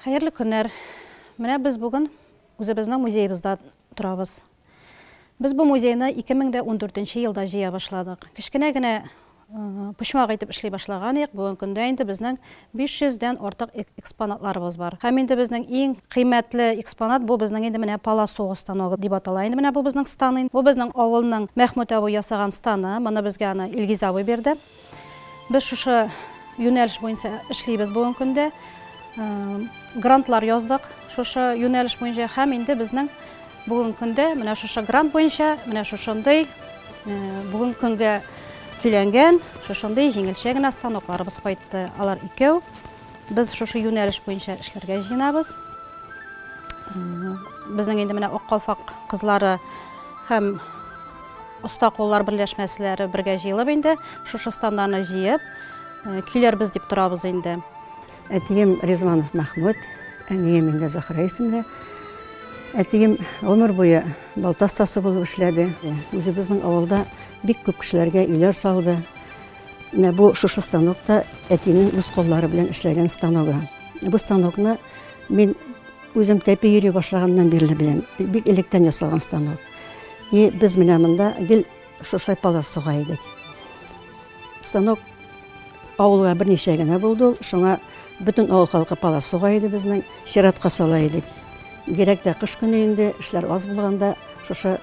Хәерле көннәр! Менә без бүген үзебезнең музеебызда торабыз. Без бу музейны 2014 елда җыя башладык. Кечкенә генә почмак итеп эшли башлаган идек. Бүген көндә инде безнең 500 дән артык экспонатларыбыз бар. Һәм инде безнең иң кыйммәтле экспонат бу безнең инде менә полосуга станогы дип атала инде менә бу безнең стан. Бу безнең авылның Мәхмүт абый ясаган станы. Моны безгә аны Илгиз абый бирде. Без шушы юнәлеш буенча эшлибез бүгенге көндә. Грантлар яздык шушы юнәлеш буенча һәм инде безнең бүгенге көндә менә шушы грант буенча менә шушындый бүгенге көнгә көйләнгән шушындый җиңелчә генә станокларыбыз кайтты. Алар икәү. Без шушы юнәлеш буенча эшләргә җыенабыз. Безнең инде менә Аккалфак кызлары һәм оста куллар берләшмәселәре бергә җыелып инде шушы стандарны җыеп э, көйләрбез дип торабыз инде. Әтием Ризванов Мәхмүт, әнием инде Зөхрә исемле. Әтием гомер буе балта остасы булып эшләде. Үзебезнең авылда бик күп кешеләргә өйләр салды. Менә бу шушы станокта әтинең үз куллары белән эшләгән станогы. Бу станокны мин үзем тәпи йөри башлаганнан бирле беләм. Бик электән ясалган станок. И без менә монда гел шушлай палас суга идек. Станок авылга берничә генә булды ул. Шуңа бөтен авыл халкы палас суга иде безнең. Чиратка сала идек. Бигрәк тә кыш көне инде эшләр аз булганда шушы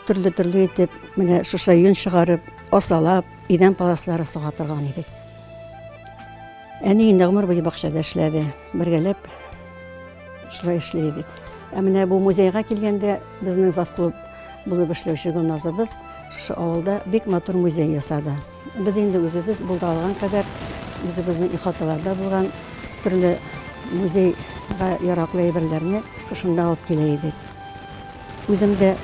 Төрле-төрле итеп, менә шушы йон чыгарып, асалап, идән паласлары суга торган идек. Әни инде гомер буе бакчада эшләде. Бергәләп шулай эшли идек. Ә менә бу музейга килгәндә безнең завклуб булып эшләүче Гөлназыбыз шушы авылда бик матур музей ясады. Без инде үзебез булдыра алган кадәр, үзебезнең ихаталарда булган төрле музейга яраклы әйберләрне шунда алып килә идек. Үзем дә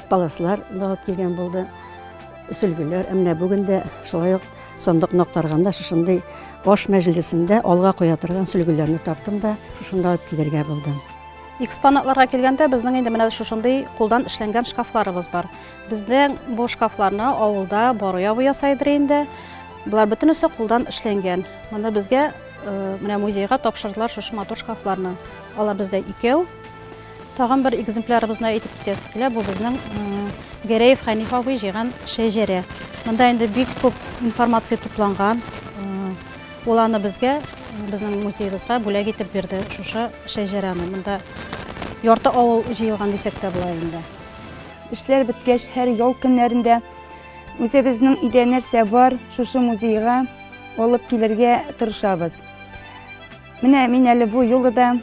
паласлар да алып килгән булды, сөлгеләр. Ә менә бүген дә шулай ук сандык ноктарганда шушындый аш мәҗлесендә алга куя торган сөлгеләрне таптым да шушында алып килергә булдым. Экспонатларга килгәндә, безнең инде менә шушындый кулдан эшләнгән шкафларыбыз бар. Безнең бу шкафларны авылда бару ябы ясайдыр инде. Болар бөтенесе кулдан эшләнгән. Моны безгә э, менә музейга тапшырдылар шушы матур шкафларны. Алар бездә икәү. Тагын бер экземплярыбызны әйтеп китәсе килә. Бу безнең э, Гәрәев Хәниф абый җыйган шәҗәрә. Монда инде бик күп информация тупланган. Э, ул аны безгә безнең музеебызга бүләк итеп бирде шушы шәҗәрәне. Монда ярты авыл җыелган дисәк тә була инде. Эшләр беткәч, һәр ял көннәрендә үзебезнең өйдә нәрсә бар, шушы музейга алып килергә тырышабыз. Менә мин әле бу юлы да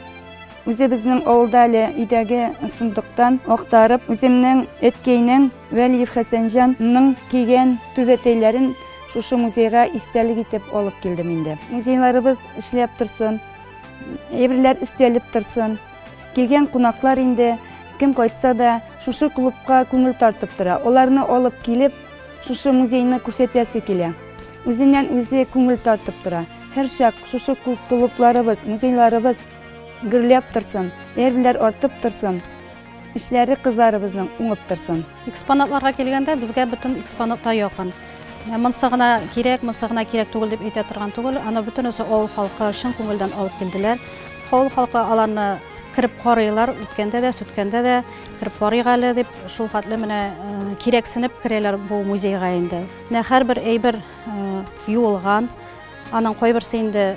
үзебезнең авылда әле өйдәге сундыктан актарып, үземнең әткәйнең Вәлиев Хәсәнҗанның кигән түбәтәйләрен шушы музейга истәлек итеп алып килдем инде. Музейларыбыз эшләп торсын, әйберләр өстәлеп торсын. Килгән кунаклар инде кем кайтса да шушы клубка күңел тартып тора. Аларны алып килеп, шушы музейны күрсәтәсе килә. Үзеннән үзе күңел тартып тора. Һәрчак шушы клубларыбыз, музейларыбыз гөрләп торсын, әйберләр артып торсын, эшләре кызларыбызның уңып торсын. Экспонатларга килгәндә, безгә бөтен экспонат та якын. Ә Монсы гына кирәк, монсы гына кирәк түгел дип әйтә торган түгел. Аны бөтенесе авыл халкы чын күңелдән алып килделәр. Авыл халкы аларны кереп карыйлар, үткәндә дә, сүткәндә дә кереп карыйк әле дип, шул хәтле менә э, кирәксенеп керәләр бу музейга инде. Менә һәрбер әйбер э, юылган, аның кайберсе инде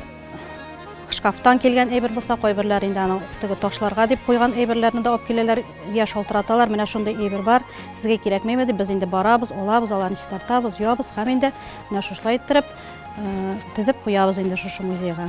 шкафтан килгән әйбер булса, кайберләр инде аның теге ташларга дип куйган әйберләрне дә алып киләләр, я шалтыраталар, менә шундый әйбер бар, сезгә кирәкмәйме дип, без инде барабыз, алабыз, аларны чистартабыз, юабыз һәм инде менә шушылай иттереп э, тезеп куябыз инде шушы музейга.